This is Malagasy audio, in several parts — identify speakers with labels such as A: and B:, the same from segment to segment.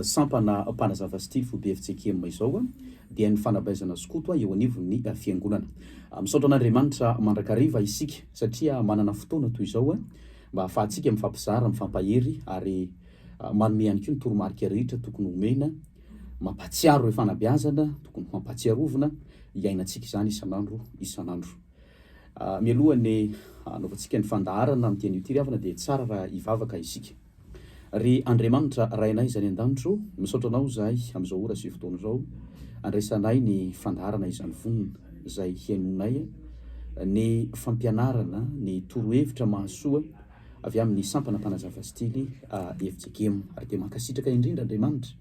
A: sampana mpanazava sy tifo BFJKM izao dia ny fanabeazana skoto eo anivon'ny fiangonana. Misaotra an'Andriamanitra mandrakariva isika satria manana fotoana toy izao mba hahafahantsika mifampizara, mifampahery ary manome ihany koa ny toromarika rehetra tokony homena, mampahatsiaro ireo fanabeazana tokony hampatsiarovina iainantsika izany isan'andro isan'andro. Mialoha ny hanaovantsika ny fandaharana amin'ny teny io ity ry havana dia tsara raha hivavaka isika. Ry Andriamanitra Rainay izay any an-danitro, misaotra Anao izahay amin'izao ora sy fotoana izao andraisanay ny fandaharana izany vonona izay hihainoanay ny fampianarana, ny torohevitra mahasoa avy amin'ny sampana mpanazava stily FJKM. Ary dia mankasitraka indrindra Andriamanitra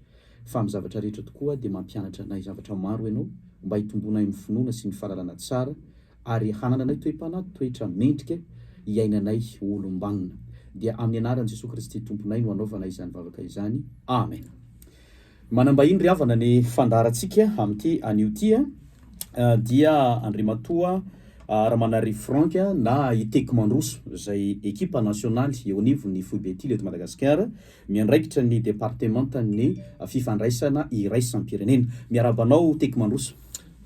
A: fa amin'ny zavatra rehetra tokoa dia mampianatra anay zavatra maro Ianao mba hitombonay amin'ny finoana sy ny fahalalana tsara ary hanananay toe-panahy toetra mendrika iainanay ho olom-banona. Dia amin'ny anaran'i Jesoa Kristy Tomponay no anaovana izany vavaka izany. Amena. Manambahiny ry havana ny fandaharantsika amin'ity anio ity a, dia Andriamatoa Ramanarivo Franck na i Teko Mandroso izay ekipa nasionaly eo anivon'ny Foibe Tily eto Madagasikara, miandraikitra ny departemantan'ny fifandraisana iraisam-pirenena. Miarahaba anao Teko Mandroso.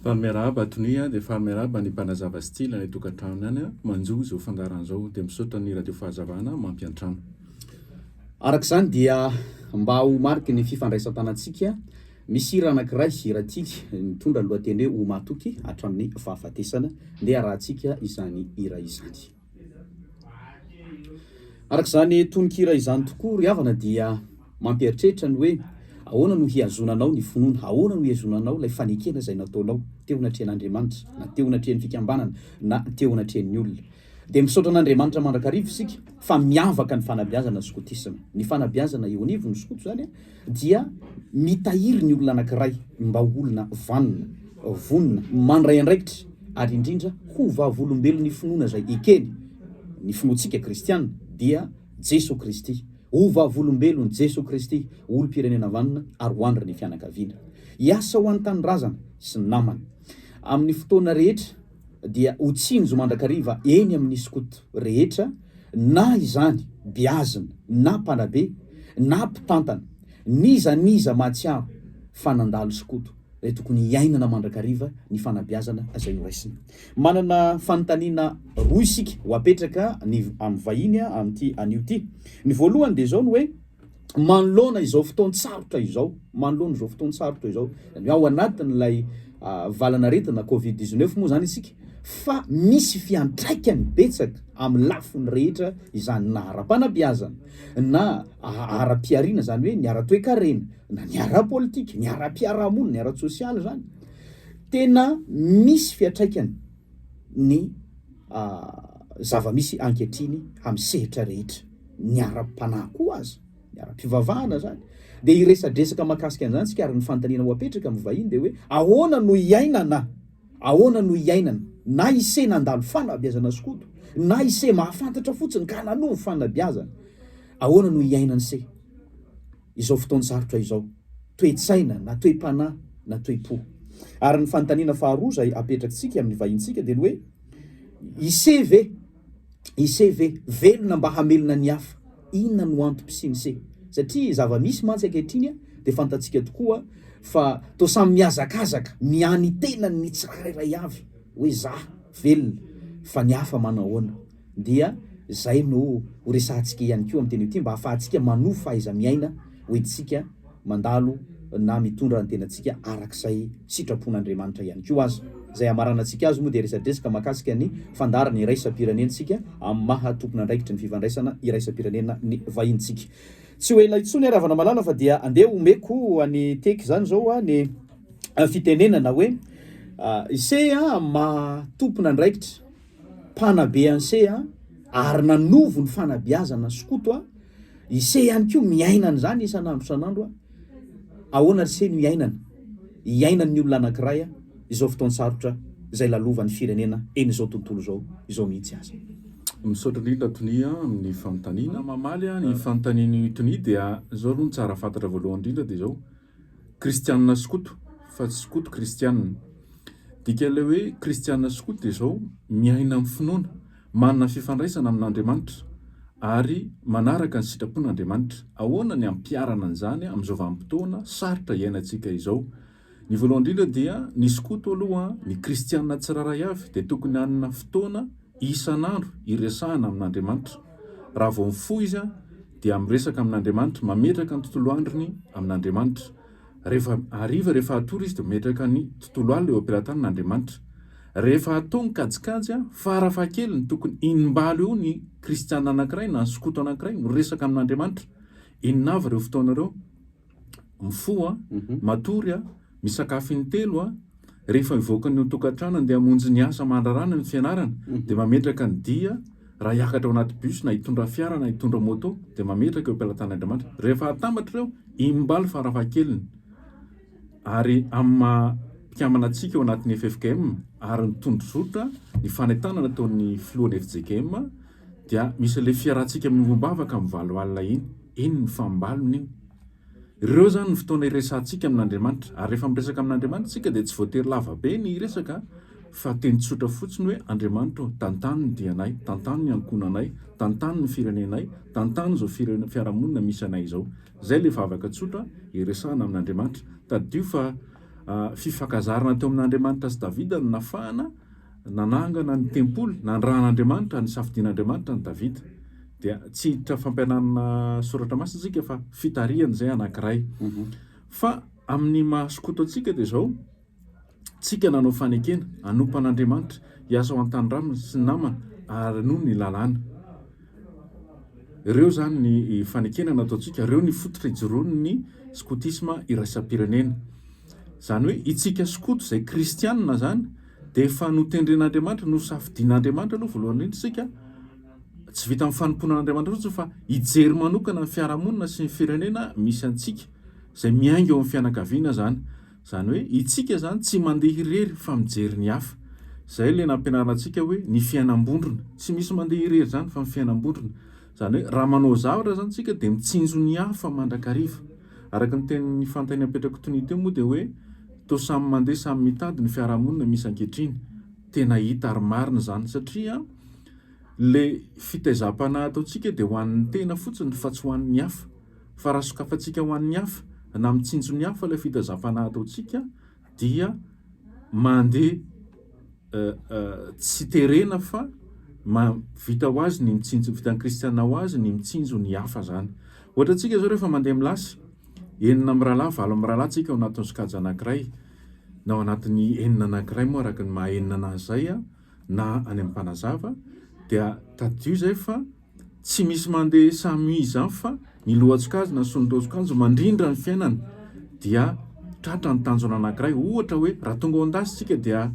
A: Fa miarahaba
B: Tony a, dia fa miarahaba ny mpanazava style any an-tokantrano any a, manjo izao fandaharana izao, dia misaotra ny Radio Fahazavana mampiantrano.
A: Araka izany dia mba ho mariky ny fifandraisan-tanantsika, misy hira anankiray, hira tily, mitondra ny lohateny hoe Ho matoky hatramin'ny fahafatesana, ndeha arahantsika izany hira izany. Araka izany tononkira izany tokoa ry havana dia mampieritreritra ny hoe ahoana no hihazonanao ny finoana, ahoana no hihazonanao ilay fanekena izay nataonao teo anatrehan'Andriamanitra na teo anatrehan'ny fikambanana na teo anatrehan'ny olona. Dia misaotra an'Andriamanitra mandrakariva isika fa miavaka ny fanabeazana skotisma. Ny fanabeazana eo anivon'ny skoto izany a! dia mitahiry ny olona anankiray mba ho olona vanona, vonona, mandray andraikitra, ary indrindra ho vavolombelon'ny finoana izay ekeny. Ny finoantsika kristiana dia Jesoa Kristy, ho vavolombelon'i Jesoa Kristy, ho olom-pirenena vanona, ary ho andrin'ny fianakaviana. Hiasa ho an'ny tanindrazana sy ny namana. Amin'ny fotoana rehetra. dia ho tsinjo mandrakariva eny amin'ny skoto rehetra na izany beazina na mpanabe na mpitantana n'iza n'iza mahatsiaro fa nandalo skoto dia tokony hiainana mandrakariva ny fanabeazana izay noraisina. Manana fanontaniana roa isika ho apetraka ny amin'ny vahiny amin'ity anio ity. Ny voalohany dia izao ny hoe. manoloana izao fotoan-tsarotra izao, manoloana izao fotoan-tsarotra izao, ny ao anatin'ilay ah, valanaretina Covid 19 moa izany isika, fa misy fiantraikany betsaka amin'ny lafiny rehetra izany na ara-panabeazana, na ara-pihariana izany hoe ny ara-toekarena, na ny ara-politika, ny ara-piarahamonina, ny ara-tsosialy izany. Tena misy fiantraikany ny ah, zava-misy ankehitriny amin'ny sehatra rehetra. ny ara-panahy koa aza, ny ara-pivavahana zany, dia hiresadresaka mahakasika an'izany isika ary ny fanontaniana ho apetraka amin'ny vahiny dia hoe ahoana no iainana, ahoana no iainana, na ise nandalo fanabeazana skoto, na ise mahafantatra fotsiny ka nanovo fanabeazana, ahoana no iainan'ise izao fotoan-tsarotra izao, toe-tsaina na toe-panahy na toe-po. Ary ny fanontaniana faharoa izay apetrak'tsika amin'ny vahintsika dia ny hoe ise ve Ise ve velona mba hamelona ny hafa? Inona no antom-pisian'ise? Satria zava-misy mantsy ankehitriny dia fantatsika tokoa fa toa samy mihazakazaka ny an' ny tenany ny tsirairay avy hoe za velona fa ny hafa manao ahoana? Dia izay no horesahantsika ihany koa amin'ity anio ity mba hahafahantsika manovo fahaiza-miaina ho entintsika mandalo na mitondra ny tenantsika arak'izay sitrapon'Andriamanitra ihany koa aza. Izay hamaranantsika azy moa dia resadresaka mahakasika ny fandaharan'ny iraisam-pirenentsika amin'ny maha tompon'andraikitry ny fifandraisana iraisam-pirenena ny vahinintsika. Tsy ho ela intsony ary havana malala fa dia andeha homeko an'i Tech izany izao aho ny fitenenana hoe Ise amin'ny maha tompon'andraikitra. mpanabe an'ise a ary nanovo ny fanabeazana sy koto a ise ihany koa miaina an'izany isan'andro isan'andro a ahoana ry se no iainana iainan'ny olona anankiray a izao fotoan-tsarotra izay lalovan'ny firenena eny izao tontolo izao izao mihitsy aza Misaotra indrindra
B: Tonia amin'ny fanontaniana. Mamaly ny fanontanian'i Tonia dia izao aloha ny tsara fantatra voalohany indrindra dia izao, Kristianina skoto fa tsy skoto kristianina. Dikan'ilay hoe kristianina skoto dia izao, miaina amin'ny finoana, manana fifandraisana amin'Andriamanitra ary manaraka ny sitrapon'Andriamanitra. Ahoana ny ampiharana an'izany amin'izao vanim-potoana sarotra iainantsika izao? Ny voalohany indrindra dia ny skoto aloha, ny kristianina tsirairay avy dia tokony hanana fotoana Isan'andro iresahana amin'Andriamanitra. Raha vao mifoha izy dia miresaka amin'Andriamanitra, mametraka ny tontolo androny amin'Andriamanitra. Rehefa hariva, rehefa hatory izy dia mametraka ny tontolo alina eo am-pelatanana Andriamanitra. Rehefa hatao ny kajikajy, farafahakeliny tokony inimbalo eo ny kristiana anankiray na ny skoto anankiray miresaka amin'Andriamanitra. Inona avy ireo fotoana ireo? mifoha, matory, misakafo intelo, rehefa mivoaka ny ao an-tokantrano handeha hamonjy ny asa aman-drarany amin'ny fianarana dia mametraka ny dia raha hiakatra ao anaty bus na hitondra fiara na hitondra moto dia mametraka eo am-pelatan'Andriamanitra rehefa atambatra ireo imbalo farafahakeliny ary amin'ny maha mpikambana antsika ao anatin'ny FFKM ary ny tondrozotra ny fanentanana ataon'ny filohan'ny FJKM dia misy ilay fiarahantsika miombom-bavaka amin'ny valo alina iny, iny ny fambalona iny. Ireo izany ny fotoana iresahantsika amin'Andriamanitra, ary rehefa miresaka amin'Andriamanitra isika dia tsy voatery lava be ny hiresaka fa teny tsotra fotsiny hoe Andriamanitra ô, tantano ny dianay, tantano ny ankohonanay, tantano ny firenenay, tantano izao fiarahamonina misy anay izao. Izay ilay vavaka tsotra iresahana amin'Andriamanitra. Tadidio fa fifankazarana teo amin'Andriamanitra sy Davida no nafahana. Nanangana ny tempoly, nandran'Andriamanitra, nisafidian'Andriamanitra an'i Davida. Dia tsy hiditra fampianarana soratra masina isika fa fitarihana izay anankiray. Fa amin'ny maha skoto antsika dia izao, tsika nanao fanekena, hanompa an'Andriamanitra, hiasa ho an'ny tanindrazana sy ny namana, ary hanohy ny lalàna. Ireo izany ny fanekena nataontsika, ireo ny fototra ijoroan'ny skotisma iraisam-pirenena. Izany hoe itsika skoto izay kristianina izany, Dia efa notendren'Andriamanitra, nosafidian'Andriamanitra aloha voalohany indrindra isika, tsy vita amin'ny fanompoana an'Andriamanitra fotsiny fa hijery manokana ny fiarahamonina sy ny firenena misy antsika, izay miainga eo amin'ny fianakaviana izany. Izany hoe itsika izany tsy mandeha irery fa mijery ny hafa. Izay ilay nampianarina antsika hoe ny fiainam-bondrona. Tsy misy mandeha irery izany fa ny fiainam-bondrona. Izany hoe raha manao zavatra izany isika dia mitsinjo ny hafa mandrakariva. Araka ny tenin'i Fanta eny apetrako tonia teo moa dia hoe toa samy mandeha samy mitady ny fiarahamonina misy ankehitriny. Tena hita ary marina izany satria ilay fitaizam-panahy ataontsika dia ho an'ny tena fotsiny fa tsy ho an'ny hafa. Fa raha sokafantsika ho an'ny hafa na mitsinjo ny hafa ilay fitaizam-panahy ataontsika dia mandeha tsy terena fa vita ho azy ny mitsinjo, vitan'ny kristiana ho azy ny mitsinjo ny hafa izany. Ohatra antsika izao rehefa mandeha milasy, enina mirahalahy, valo mirahalahy tsika ao anatin'ny sokajy anankiray, na ao anatin'ny enina anankiray moa araka ny maha enina anazy izay na any amin'ny mpanazava dia tadidio izay fa Tsy misy mandeha samy izany fa ny lohan-tsokajina sy ny roa-tsokajiny mandrindra ny fiainana dia tratra ny tanjona anankiray. Ohatra hoe raha tonga ao an-dasy isika dia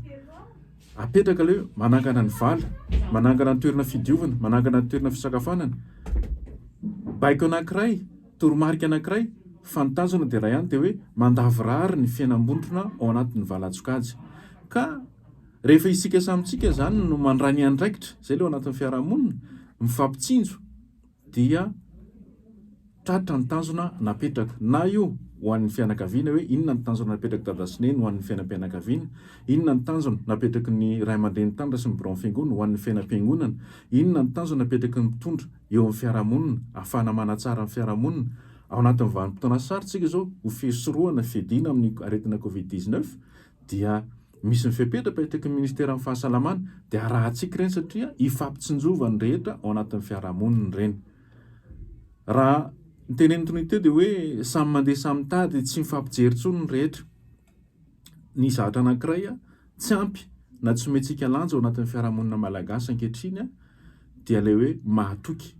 B: apetraka ilay hoe manangana ny vala, manangana ny toerana fidiovana, manangana ny toerana fisakafoanana. Baiko anankiray, toromarika anankiray fa ny tanjona dia iray ihany dia hoe mandavorary ny fiainam-bondrona ao anatin'ny valan-tsokajy ka. Rehefa isika samy tsika izany no mandray ny andraikitra izay leo anatin'ny fiarahamonina, mifampitsinjo, dia tratra ny tanjona napetraka. Na io ho an'ny fianakaviana hoe inona ny tanjona napetrak'i dada sy neny ho an'ny fiainam-pianakaviana, inona ny tanjona napetraky ny ray aman-dreny tany sy ny biraon'ny fiangonana ho an'ny fiainam-piangonana, inona ny tanjona napetraky ny mpitondra eo amin'ny fiarahamonina ahafahana manatsara ny fiarahamonina. Ao anatin'ny vanim-potoana sarotra isika izao ho fisorohana, fiadiana amin'ny aretina covid 19, dia misy ny fepetra apetraky ny ministeran'ny fahasalamana dia arahantsika ireny satria ifampitsinjovan'ny rehetra ao anatin'ny fiarahamonina ireny. Raha ny tenenin'i Tony teo dia hoe samy mandeha samy mitady tsy mifampijery intsony ny rehetra. Ny zavatra anankiray tsy ampy na tsy omentsika lanja ao anatin'ny fiarahamonina malagasy ankehitriny dia ilay hoe mahatoky.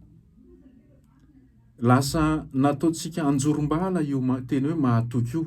B: Lasa nataontsika anjorom-bala io teny hoe mahatoky io.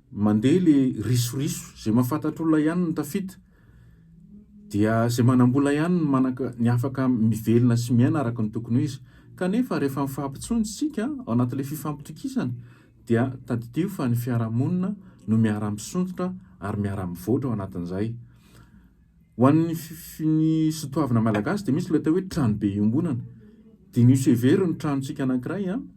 B: Mandeha le risoriso, zay mahafantatr'olona ihany no tafita, dia zay manambola ihany no manaka ny afaka mivelona sy miaina araka ny tokony ho izy. Kanefa rehefa mifampitsonia isika ao anatin'ilay fifampitokisana dia tadidio fa ny fiarahamonina no miara-misondrotra ary miara-mivoatra ao anatin'izay. Ho an'ny ny sotoavina malagasy dia misy ilay atao hoe tranobe iombonana. Diniho sy hevero ny tranontsika anankiray an!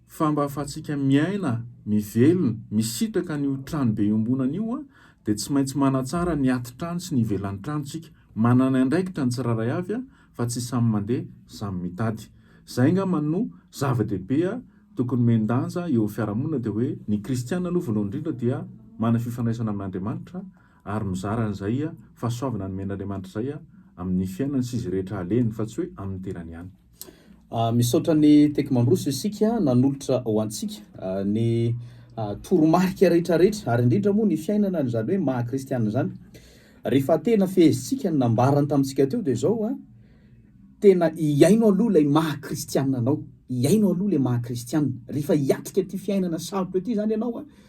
B: Fa mba ahafahantsika miaina, mivelona, misitraka an'io tranobe iombonana io dia tsy maintsy manatsara ny atitrano sy ny ivelan'ny trano tsika. Manana andraikitra ny tsirairay avy fa tsy samy mandeha samy mitady. Izay angamba no zava-dehibe tokony omen-danja eo amin'ny fiarahamonina dia hoe ny kristiana aloha voalohany indrindra dia manana fifandraisana amin'Andriamanitra ary mizara an'izay fahasoavana nomen'Andriamanitra izay amin'ny fiainany sy izay rehetra alehany fa tsy hoe amin'ny tenany ihany. Misaotra
A: an'i Tech Mandroso isika nanolotra ho antsika ny toromarika rehetrarehetra ary indrindra moa ny fiainana izany hoe maha kristiana izany. Rehefa tena fehezintsika ny nambarany tamintsika teo dia izao a, tena hiaino aloha ilay maha kristiana anao, hiaino aloha ilay maha kristiana. Rehefa hiatrika ity fiainana sarotra ity izany ianao a,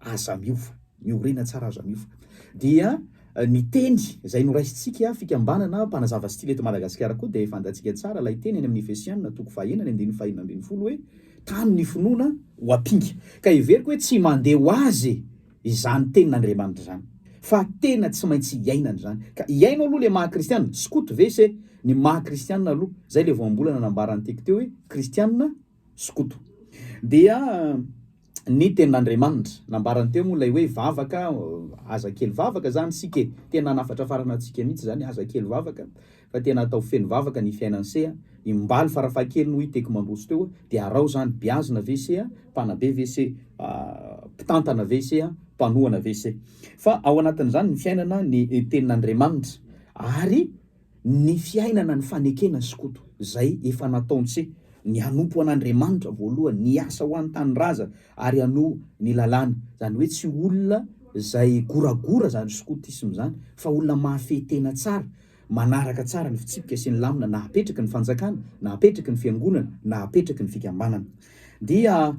A: Aza miova. Ny orena tsara aza miova. Dia ny teny izay noraisintsika fikambanana mpanazava style eto Madagasikara koa dia fantatsika tsara ilay teny any amin'ny Efesiana toko fahenina ny andininy fahenina ambin'ny folo hoe tano ny finoana ho ampinga. Ka heveriko hoe tsy mandeha ho azy izany tenin'Andriamanitra izany. Fa tena tsy maintsy iainana izany. Ka hiaino aloha ilay maha kristiana. Skoto ve se ny maha kristiana aloha. Izay ilay voambolana nambaran'i Tecteo hoe kristiana. skoto. Dia ny tenin'Andriamanitra. Nambarany teo moa ilay hoe vavaka, aza kely vavaka izany isika e. Tena hanafatrafarana antsika mihitsy izany, aza kely vavaka fa tena atao feno vavaka ny fiainan'i se a. Imbaly farafahakeliny hoy i Teko mandroso teo, dia arao izany, beazina ve se a, mpanabe ve se, mpitantana ve se a, mpanohana ve se. Fa ao anatin'izany ny fiainana, ny tenin'Andriamanitra. Ary Ny fiainana ny fanekena skoto zay efa nataontsy ny hanompo an'Andriamanitra voalohany, ny hiasa ho an'ny tanindrazana ary hanoa ny lalàna. Zany hoe tsy olona zay goragora zany skotisme zany fa olona mahafehy tena tsara, manaraka tsara ny fitsipika sy ny lamina nahapetraky ny fanjakana, nahapetraky ny fiangonana, nahapetraky ny fikambanana. Dia.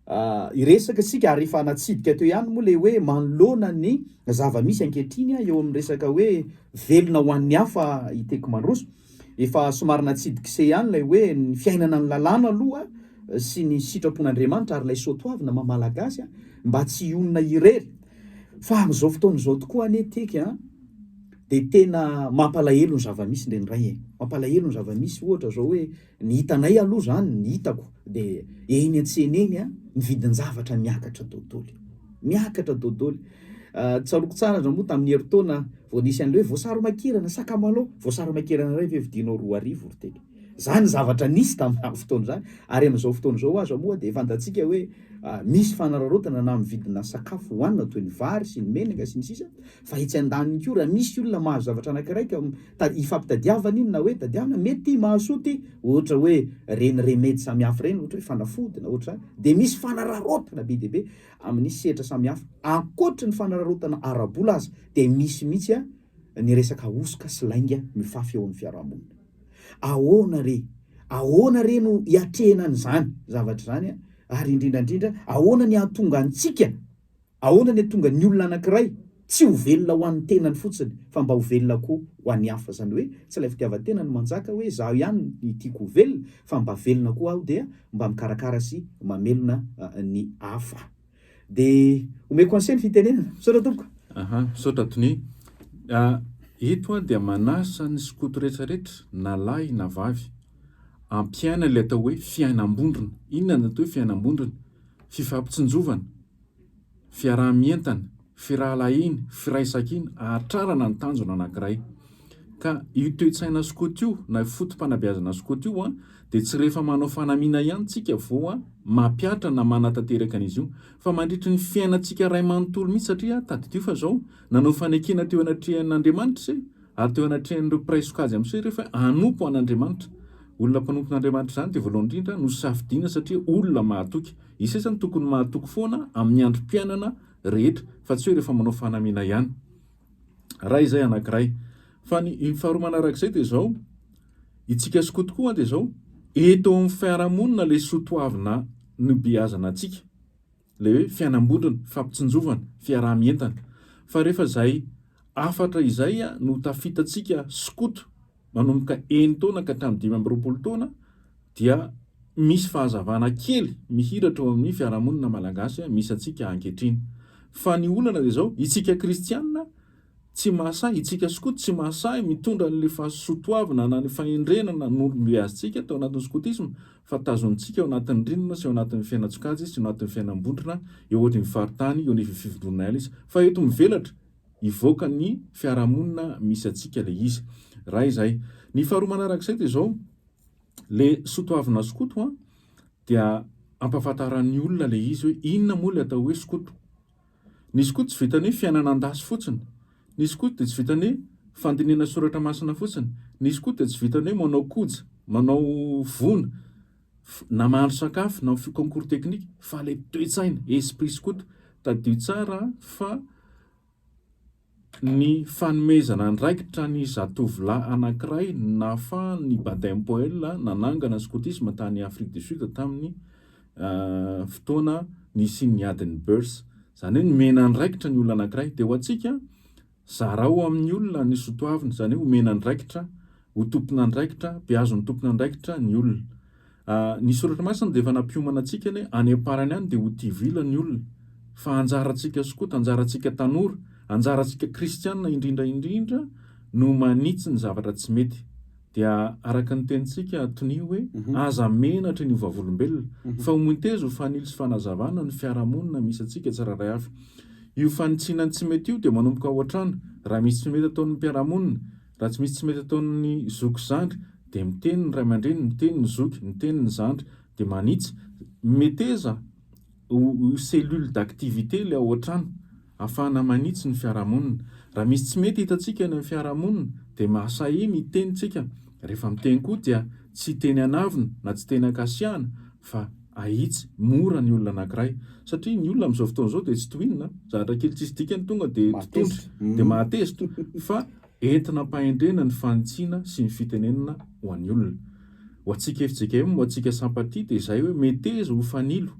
A: Hiresaka isika ary efa natsidika teo ihany moa ilay hoe manoloana ny zava-misy ankehitriny eo amin'ny resaka hoe velona ho an'ny hafa i Teko Mandroso. Efa somary natsidik'ise ihany ilay hoe ny fiainana ny lalàna aloha sy ny sitrapon'Andriamanitra ary ilay soatoavina maha Malagasy mba tsy hionona irery. Fa amin'izao fotoana izao tokoa anie Teka a! dia tena mampalahelo ny zava-misy indraindray e! Mampalahelo ny zava-misy ohatra izao hoe. Ny hitanay aloha zany, ny hitako de eny antsena eny a, ny vidin-javatra miakatra dodoly. Miakatra dodoly. Tsaroako tsara ndra moa tamin'ny herintaona vao nisy an'le hoe voasary makirana, sakamalao, voasary makirana iray ve vidinao roa arivo ry teny. Zany ny zavatra nisy tamin'izany fotoana izany ary amin'izao fotoana izao aza moa dia fantatsika hoe misy fanararaotana na amin'ny vidina sakafo hohanina toy ny vary sy ny menaka sy ny sisa Fa etsy an-daniny koa, raha misy olona mahazo zavatra anankiray ka ifampitadiavana iny na hoe tadiavina, mety ity mahasoa ity, ohatra hoe ireny remedy samihafa ireny, ohatra hoe fanafody na ohatra izany, dia misy fanararaotana be dia be amin'ny sehatra samihafa. Ankoatry ny fanararaotana ara-bola aza dia misy mihitsy ny resaka hosoka sy lainga mifafy eo amin'ny fiarahamonina. Ahoana re? Ahoana re no hiatrehina an'izany zavatra izany ary indrindra indrindra ahoana ny hahatonga antsika Ahoana ny atonga ny olona anankiray tsy ho velona ho an'ny tenany fotsiny fa mba ho velona koa ho an'ny hafa, izany hoe tsy ilay fitiavan-tena no manjaka hoe izaho ihany ny tiako ho velona fa mba velona koa aho dia mba mikarakara sy mamelona ny hafa. Dia omeko conseil ny fitenenana. Misaotra tompoko. Aha, misaotra Tony.
B: Ito aho dia manasa ny skoto rehetra rehetra na lahy na vavy ampiaina ilay atao hoe fiainam-bondrona. Inona no atao hoe fiainam-bondrona? Fifampitsinjovana. fiaraha-mientana, firahalahiana, firaisankina, ahatrarana ny tanjona anankiray. Ka io toe-tsaina skoto io na io foto-panabeazana skoto io dia tsy rehefa manao fanamiana ihany tsika vao mampihatra na manatanteraka an'izy io fa mandritry ny fiainantsika iray manontolo mihitsy satria tadidio fa zao nanao fanekena teo anatrehan'Andriamanitra se ary teo anatrehan'ireo mpiray sokajy amin'izay rehefa hanompo an'Andriamanitra olona mpanompon'Andriamanitra izany dia voalohany indrindra nosafidiana satria olona mahatoky I sasany tokony mahatoky foana amin'ny androm-piainana rehetra fa tsy hoe rehefa manao fanamiana ihany. Ray izay anankiray. Fa ny ny faharoa manarak'izay dia izao, itsika skoto tokoa an dia izao, eto amin'ny fiarahamonina ilay soa toavina nobeazana antsika, ilay hoe fiainam-bondrona, fifampitsinjovana, fiaraha-mientana. Fa rehefa izay hafatra izay no tafitantsika skoto, manomboka enin-taona ka hatramin'ny dimy amby roapolo taona dia misy fahazavana kely mihiratra eo amin'ny fiarahamonina malagasy misy antsika ankehitriny. Fa ny olana dia izao, itsika kristianina tsy mahasahy, itsika skoto tsy mahasahy mitondra an'ilay fahasotoavina na ny fahendrenana nobeazintsika tao anatin'ny skotisma fa tazonintsika ao anatin'ny rindrina sy ao anatin'ny fiainan-tsokajy sy ao anatin'ny fiainam-bondrona eo anivon'ny faritany, eo anivon'ny fivontronan'aina izy. Fa eto mivelatra, hivoaka ny fiarahamonina misy antsika ilay izy. Iray izay. Ny faharoa manarak'izay dia izao, ilay sotoavina skoto an, dia ampahafantaran'ny olona ilay izy hoe inona moa ilay atao hoe skoto. Ny skoto tsy vitan'ny hoe fiainana an-dasy fotsiny. Ny skoto dia tsy vitan'ny hoe fandinihana soratra masina fotsiny. Ny skoto dia tsy vitan'ny hoe manao koja, manao vono. na mahandro sakafo na mify concours technique fa ilay toe-tsaina, esprit skoto, tadidio tsara an fa ny fanomezana andraikitra ny zatovolahy anankiray nahafahan'ny Baden Powell nanangana skotisma tany Afrique du Sud tamin'ny fotoana nisian'ny adin'ny Boers, izany hoe nomena andraikitra ny olona anankiray, dia ho antsika Zarao amin'ny olona ny sotoavina, izany hoe omena andraikitra ho tompon'andraikitra, beazon'ny tompon'andraikitra ny olona. Ny Soratra Masina dia efa nampiomana antsika ny hoe any am-parany any dia ho tivila ny olona. Fa anjarantsika skota, anjarantsika tanora, anjarantsika kristiana indrindra indrindra no manitsy ny zavatra tsy mety. Dia araka ny tenintsika tonia hoe, aza menatra ny ho vavolombelona, fa homonteza ho fanilo sy fanazavana ny fiarahamonina misy antsika tsirairay avy. Io fanitsiana ny tsy mety io dia manomboka ao an-trano, raha misy tsy mety ataon'ny mpiara-monina, raha tsy misy tsy mety ataon'ny zoky sy zandry, dia miteny ny ray aman-dreny, miteny ny zoky, miteny ny zandry, dia manitsy, meteza, Ho cellule d'activité ilay ao an-trano, ahafahana manitsy ny fiarahamonina. Raha misy tsy mety hitantsika any amin'ny fiarahamonina dia mahasahy miteny isika. Rehefa miteny koa dia tsy teny an'avona na tsy teny ankasiahana fa ahitsy mora ny olona anankiray. Satria ny olona amin'izao fotoana izao dia tsy tohinina, zavatra kely tsisy dikany tonga dia totondry dia mahatezitra fa Entina am-pahendrena ny fanitsiana sy ny fitenenana ho an'ny olona. Ho antsika fjkm, ho antsika Sampatia dia izay hoe meteza ho fanilo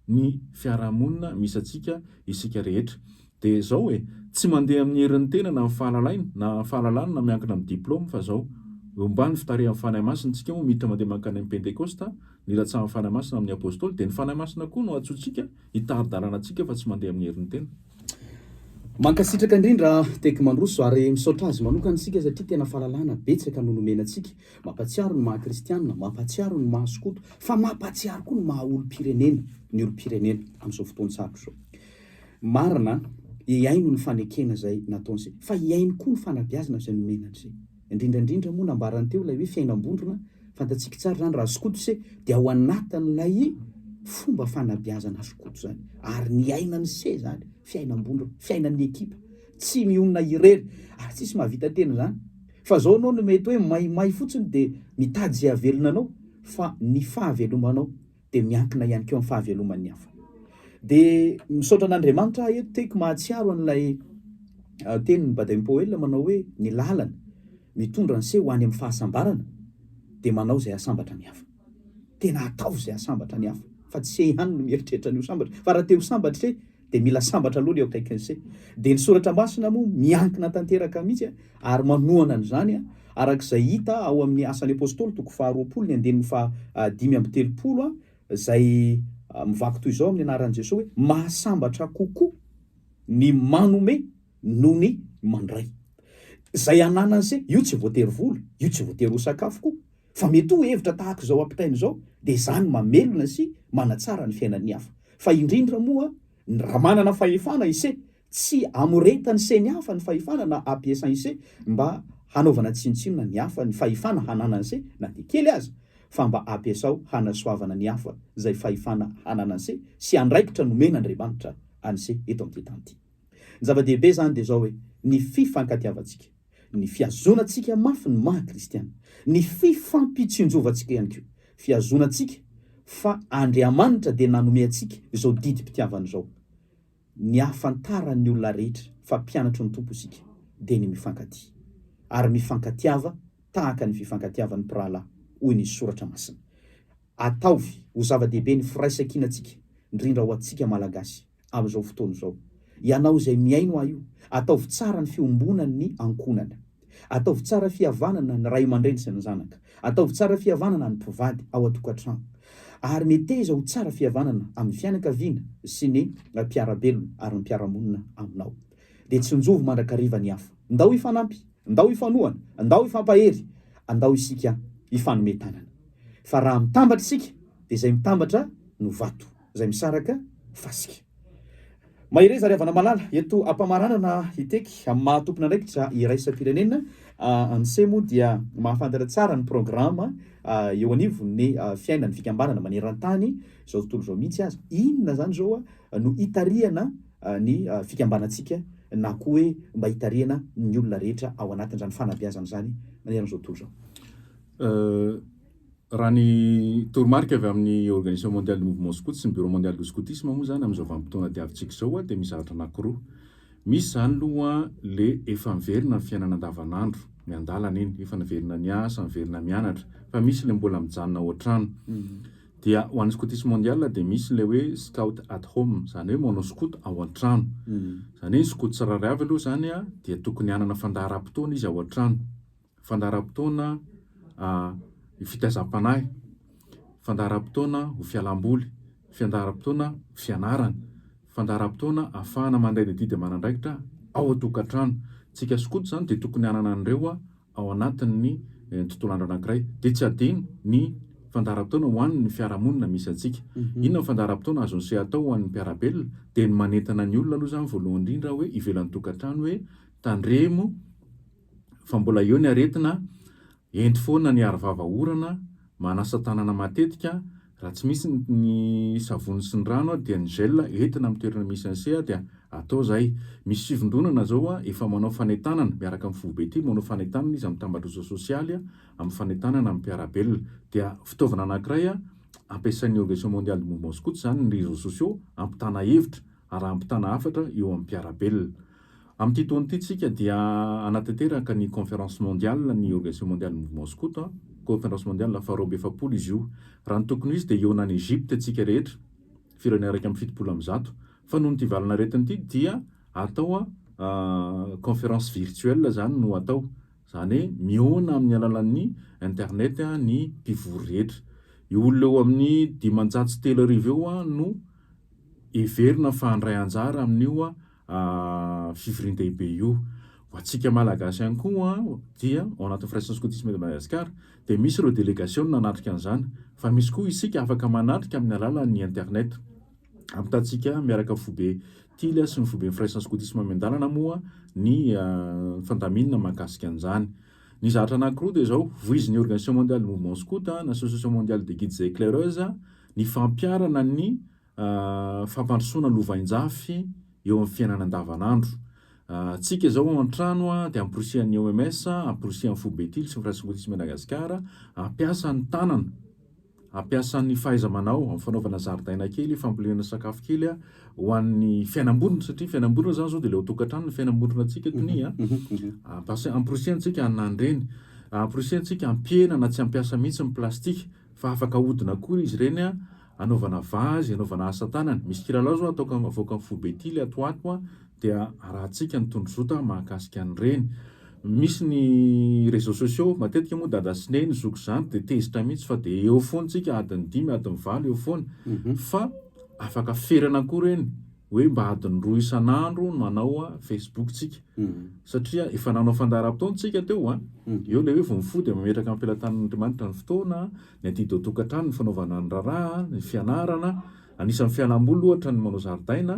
B: ny fiarahamonina misy antsika isika rehetra. Dia izao e, tsy mandeha amin'ny herin'ny tena na ny fahalalaina na fahalalana na miankina amin'ny diplaoma fa izao, Homba ny fitarihan'ny Fanahy Masina isika moa miditra mandeha mankany amin'ny Pentekosta, nilatsahan'ny Fanahy Masina amin'ny Apostoly, dia ny Fanahy Masina koa no antsointsika hitari-dalana antsika fa tsy mandeha amin'ny herin'ny tena.
A: Mankasitraka indrindra Tek Mandroso ary misaotra azy manokana isika satria tena fahalalana betsaka no nomena antsika. Mampatsiaro ny maha kristianina, mampatsiaro ny maha skoto fa mampatsiaro koa ny maha olom-pirenena, ny olom-pirenena amin'izao fotoana sarotra izao. Marina, hihaino ny fanekena izay nataony izay fa hihaino koa ny fanabeazana izay nomena an'izay. Indrindra indrindra moa nambarany teo ilay hoe fiainam-bondrona, fantatsika tsara izany raha skoto se dia ao anatin'ilay fomba fanabeazana skoto izany ary ny ainany se izany fiainam-bondrona, fiainan'ny ekipa, tsy mionona irery ary tsisy mahavita tena izany fa izao ianao no mety hoe maimay fotsiny dia mitady izay havelona anao fa ny fahavelomanao dia miankina ihany koa amin'ny fahaveloman'ny hafa. Dia misaotra an'Andriamanitra aho eto teko mahatsiaro an'ilay ah, tenin'i Baden Powell manao hoe ny lalana mitondra anse ho any amin'ny fahasambarana dia manao izay asambatra ny hafa. Tena ataovy izay asambatra ny hafa fa tsy se ihany no mieritreritra ny ho sambatra fa raha te ho sambatra dia mila sambatra aloha ny eo akaikin'ny se dia ny soratra masina moa miankina tanteraka mihitsy a ary manohana an'izany a araka izay hita ao amin'ny asan'ny apôstôly toko faharoapolo ny andininy faha dimy amby telopolo a izay mivaky toy izao amin'ny anaran'i Jesoa hoe mahasambatra kokoa ny manome noho ny mandray izay ananan'ny se io tsy voatery vola io tsy voatery ho sakafo koa Fa mety ho hevitra tahaka izao ampitaina izao dia izany mamelona sy manatsara ny fiainan'ny hafa. Fa indrindra moa ny raha manana fahefana ise tsy amoretany se ny hafa ny fahefana na apiesany ise mba hanaovana tsinontsinona ny hafa ny fahefana hananany se na dia kely aza fa mba apiesao hanasoavana ny hafa izay fahefana hananany se sy andraikitra nomena Andriamanitra any se eto amin'ity tany ity. Ny zava-dehibe izany dia izao hoe ny fifankatiavantsika. ny fihazonantsika mafy ny maha kristiana, ny fifampitsinjovantsika ihany koa, fihazonantsika fa Andriamanitra dia nanome antsika izao didim-pitiavana izao. Ny ahafantaran'ny olona rehetra fa mpianatry ny Tompo isika dia ny mifankatia, ary mifankatiava tahaka ny fifankatiavan'ny mpirahalahy, hoy ny soratra masina. Ataovy ho zava-dehibe ny firaisan-kinantsika, indrindra ho antsika Malagasy. amin'izao fotoana izao. Ianao izay mihaino ahy io, ataovy tsara ny fiombonan'ny ankohonana. Ataovy tsara fihavanana ny ray aman-dreny sy ny zanaka. Ataovy tsara fihavanana ny mpivady ao an-tokantrano. Ary meteza ho tsara fihavanana amin'ny fianakaviana sy ny mpiara-belona ary ny mpiara-monina aminao. Dia tsinjovy mandrakariva ny hafa. Ndao hifanampy, ndao hifanohana, ndao hifampahery, andao isika hifanome tanana. Fa raha mitambatra isika, dia izay mitambatra no vato. izay misaraka fasika. Mahereza ry havana malala, eto ampamaranana iteky amin'ny maha tompon'andraikitra iraisam-pirenena, Anse moa dia mahafantatra tsara ny programa eo anivon'ny fiainan'ny fikambanana maneran-tany izao tontolo izao mihitsy aza. Inona izany izao no itarihana ny fikambanantsika na koa hoe mba itarihana ny olona rehetra ao anatin'izany fanabeazana izany maneran'izao tontolo izao? Raha
B: ny toromarika avy amin'ny Organisation Mondiale du Mouvement Scout sy ny Bureau Mondial du Scoutisme moa izany amin'izao vanim-potoana diavintsika izao dia misy zavatra anankiroa. Misy izany aloha le efa miverina ny fiainana andavanandro, miandalana iny, efa niverina niasa, niverina mianatra, fa misy ilay mbola mijanona ao an-trano. Dia ho an'ny Scoutisme Mondial dia misy ilay hoe Scout at Home, izany hoe manao skoto ao an-trano. Izany hoe ny skoto tsirairay avy aloha izany dia tokony hanana fandaharam-potoana izy ao an-trano. fandaharam-potoana ho fitaizam-panahy, fandaharam-potoana ho fialam-boly, fandaharam-potoana ho fianarana, fandaharam-potoana ahafahana mandray ny adidy aman'andraikitra ao an-tokantrano. Tsika sy koto izany dia tokony hanana an'ireo ao anatin'ny tontolo andro anankiray. Dia tsy adino ny fandaharam-potoana ho an'ny fiarahamonina misy antsika. Inona ny fandaharam-potoana azon'i se atao ho an'ny mpiara-belona? Dia ny manentana ny olona aloha izany voalohany indrindra hoe ivelan'ny tokantrano hoe tandremo fa mbola eo ny aretina, ento foana ny arovava orana, manasa tanana matetika, raha tsy misy ny savony sy ny rano dia ny gel entina amin'ny toerana misy an'se dia atao zay, misy fivondronana zao efa manao fanentanana miaraka amin'ny foibe ity manao fanentanana izy amin'ny tambatrosa sosialy amin'ny fanentanana amin'ny mpiara-belona, dia fitaovana anankiray ampiasain'ny organisation mondiale de mouvement scout zany ny reseaux sociaux hampitana hevitra, arahampitana hafatra eo amin'ny mpiara-belona. Amin'ity taona ity tsika dia hanatanteraka ny Conférence Mondiale ny Organisation Mondiale Mouvement Scout, Conférence Mondiale faharoa amby efapolo izy io. Raha ny tokony ho izy dia hihaona any Egypte tsika rehetra, firenena iraika amby fitopolo amby zato, fa noho ity valan'aretina ity dia atao Conférence Virtuelle izany no atao. Izany hoe mihaona amin'ny alalan'ny internet ny mpivory rehetra. Io olona eo amin'ny dimanjato sy telo arivo eo no heverina fa handray anjara amin'io fivorian-dehibe io. Ho antsika Malagasy ihany koa dia ao anatin'ny Firaisan'ny Skotisma eto Madagasikara dia misy ireo delegasiona hanatrika an'izany fa misy koa isika afaka manatrika amin'ny alalan'ny internet. Ampitantsika miaraka foibe Tily sy ny foiben'ny firaisan'ny skotisma miandalana moa ny fandaminana mahakasika an'izany. Ny zahatra anankiroa dia izao, voizin'ny Organisation mondiale du mouvement scout, ny Association mondiale des guides et éclaireuses, ny fampiharana ny fampandrosoana lovainjafy eo amin'ny fiainana andavanandro. Tsika izao ao an-trano dia amporisihan'ny OMS, amporisihan'ny foibe Tily sy ny firaisan'ny skotisma Madagasikara, hampiasa ny tanana Ampiasa ny fahaiza-manao amin'ny fanaovana zaridaina kely, fambolena sakafo kely ho an'ny fiainam-bondrona satria ny fiainam-bondrona izany izao dia ilay ao an-tokantrano ny fiainam-bondrona antsika tonia. Ampiasa- Amporisihantsika hanandrana eny, amporisihantsika hampihena na tsy hampiasa mihitsy ny plastika fa afaka ahodina koa izy ireny hanaovana vazy, hanaovana asa tanana. Misy kilalao izao ataoko am- avoaka amin'ny foibe ity ilay ato ho ato an. dia arahantsika ny tondrozotra mahakasika an'ireny. Misy ny réseaux sociaux, matetika moa dada sy neny zoky izany dia tezitra mihitsy fa dia eo foana tsika adiny dimy, adiny valo eo foana mhm. fa afaka ferana koa ireny hoe mba adiny roa isan'andro no manao a Facebook tsika mhm. satria efa nanao fandaharam-potoana tsika teo a mhm. eo ilay hoe vao mifoha dia mametraka ampilatan'Andriamanitra ny fotoana ny adidy ao tokantrano ny fanaovana ny raharaha ny fianarana Anisan'ny fialamboly ohatra ny manao zaridaina,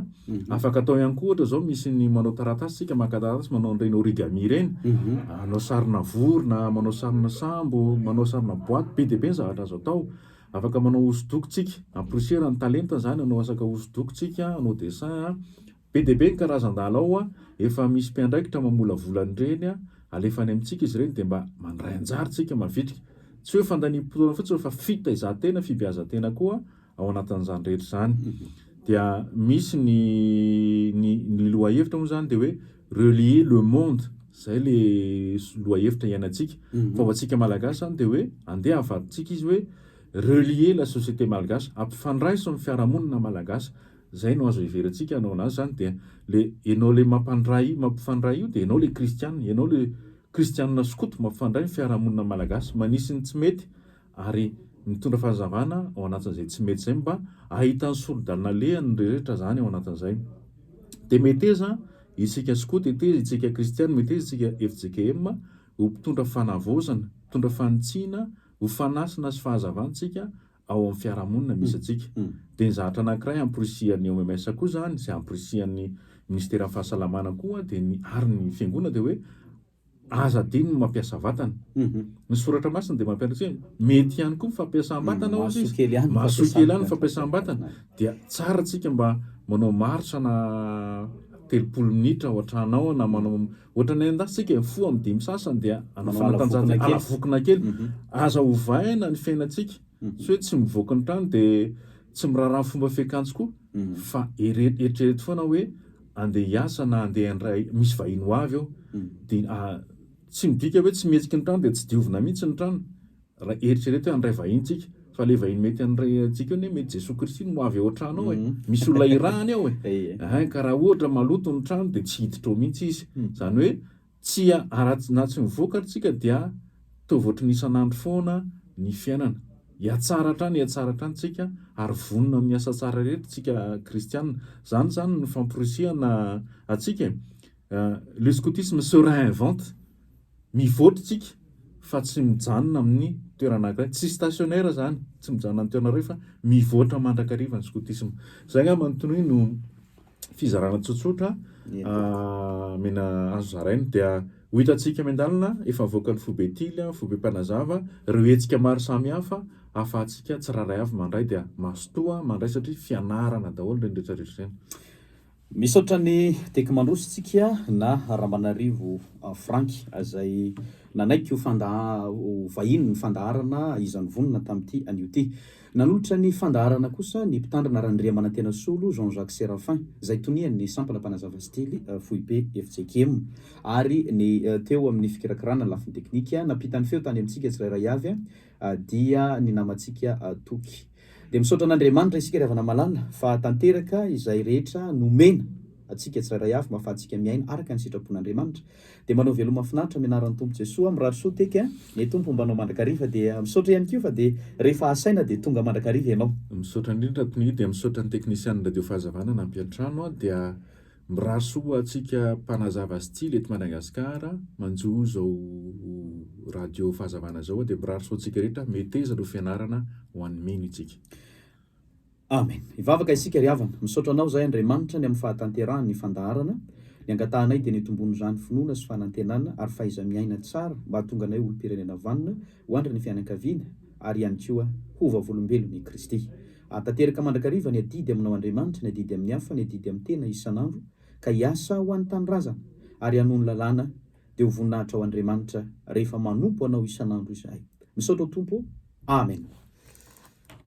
B: afaka atao ihany koa ohatra izao misy ny manao taratasy isika maka taratasy manao an'ireny origami ireny, manao sarina vorona, manao sarina sambo, manao sarina boaty, be dia be ny zavatra azo atao. Afaka manao hosodoko tsika, amporisiera ny talenta izany, hanao asaka hosodoko tsika, hanao dessin a. Be dia be ny karazan-dala ao a! Efa misy mpiandraikitra mamolavola an'ireny a! Alefa any amintsika izy ireny dia mba mandray anjara isika mavitrika. Tsy hoe fandaniam-potoana fotsiny fa fitaizan-tena, fibeazan-tena koa ao anatin'izany rehetra izany. Dia misy ny ny ny lohahevitra moa izany dia hoe relier le monde. Izay ilay lohahevitra iainantsika. Fa ho antsika Malagasy izany dia hoe andeha avadintsika izy hoe relier la société malgache, ampifandraiso ny fiarahamonina malagasy Zay no azo heverentsika anao anazy zany dia le enao le mampandray mampifandray io dia enao le kristianina enao le kristianina skoto mampifandray ny fiarahamonina malagasy manisy ny tsy mety ary mitondra fanazavana ao anatin'izay tsy mety zay mba ahitan'ny soridalana lehany ny rehetra zany ao anatin'izay dia meteza isika skoto eteza itsika kristianina meteza itsika fjkm ho mpitondra fanavaozana mpitondra fanitsiana ho fanasina sy fahazavantsika ao amin'ny fiarahamonina misy antsika. Dia ny zavatra anankiray amporisihan'ny OMS koa izany, izay amporisihan'ny Minisiteran'ny Fahasalamana koa, dia ny, ary ny Fiangonana, dia hoe aza adino ny mampiasa vatana. Ny Soratra Masina dia mampianatra antsika hoe mety ihany koa ny fampiasam-batana, hoy izy. Mahasoa kely ihany ny fampiasam-batana. Dia tsara antsika mba manao marche-na telopolo minitra ao an-tranao, na manao Ohatran'ny any an-dafy tsika e, fo amin'ny dimy sasany dia hanao fanatanjahantena, ala vokona kely. Aza ovaina ny fiainantsika, tsy hoe tsy mivoaka ny trano dia tsy miraharaha ny fomba fiakanjo koa, fa eritrereto foana hoe andeha hiasa na andeha handray, misy vahiny ho avy eo, dia tsy midika hoe tsy mihetsiky ny trano dia tsy diovina mihitsy ny trano. Raha eritrereto hoe handray vahiny tsika fa le vahiny mety handray antsika eo ne mety Jesoa Kristy no ho avy ao an-trano ao e. Mhm. Misy olona irahany ao e. Ehe. Ka raha ohatra maloto ny trano dia tsy hiditra ao mihitsy izy. Mhm. Izany hoe tsy aratsy na tsy mivoaka tsika dia toa voatry ny isan'andro foana ny fiainana. Hiatsara hatrany hiatsara hatrany tsika ary vonona amin'ny asa tsara rehetra tsika kristianina. Izany izany ny famporisihana antsika e. Euh, le scoutisme se réinvente. Mivoatra tsika fa tsy mijanona amin'ny toerana anankiray, tsy stationnaire zany, tsy mijanona amin'ny toerana iray fa mivoatra mandrakariva ny skotisma. Zay angamba ny tonoy no fizarana tsotsotra amena azo zaraina dia ho hitantsika miandalina efa mivoaka ny foibe tily an, foibe mpanazava, ireo hetsika maro samy hafa ahafahantsika tsirairay avy mandray dia mazotoa mandray satria fianarana daholo ireny rehetra rehetra ireny. Misaotra
A: an'i Tek Mandrositsika na Ramanarivo Frank izay nanaiky ho fanda ho vahiny ny fandaharana izany vonona tamin'ity anio ity. Nanolotra ny fandaharana kosa ny Mpitandrina Randriamanantenasolo Jean Jacques Séraphin izay tonian'ny Sampana Mpanazava Stily Foibe FJKM ary ny teo amin'ny fikirakirana ny lafiny teknika. Nampita ny feo tany amintsika tsirairay avy dia ny namantsika Toky. Dia misaotra an'Andriamanitra isika ry havana malala fa tanteraka izay rehetra nomena atsika tsirairay avy mba afahantsika miaina araka ny sitrapon'Andriamanitra. Dia mba anao veloma finaritra amin'ny anaran'ny Tompo Jesoa mirary soa teky a! Ny Tompo homba anao mandrakariva dia misaotra ihany koa fa dia rehefa asaina dia tonga mandrakariva ianao. Misaotra indrindra Tony
B: dia misaotra ny teknisianin'ny radio fahazavana nampiantrano dia. Mirary soa ho antsika mpanazava style eto Madagasikara manjo izao radio fahazavana izao dia mirary soa antsika rehetra meteza no fianarana ho an'ny mino itsika.
A: Amen. Hivavaka isika ry havana. Misaotra anao izahay Andriamanitra ny amin'ny fahatanterahany ny fandaharana. Ny angatahanay dia ny hitomboan'izany finoana sy fanantenana ary fahaiza-miaina tsara mba hahatonga anay olom-pirenena vanona ho andrin'ny fianakaviana ary ihany koa ho vavolombelon'i Kristy. Ahatanteraka mandrakariva ny adidy aminao Andriamanitra, ny adidy amin'ny hafa, ny adidy amin'ny tena isan'andro, ka hiasa ho an'ny tanindrazana, ary hanohy ny lalàna, dia ho voninahitra ho Andriamanitra, rehefa manompo Anao isan'andro izahay. Misaotra ao Tompo ô! Amena.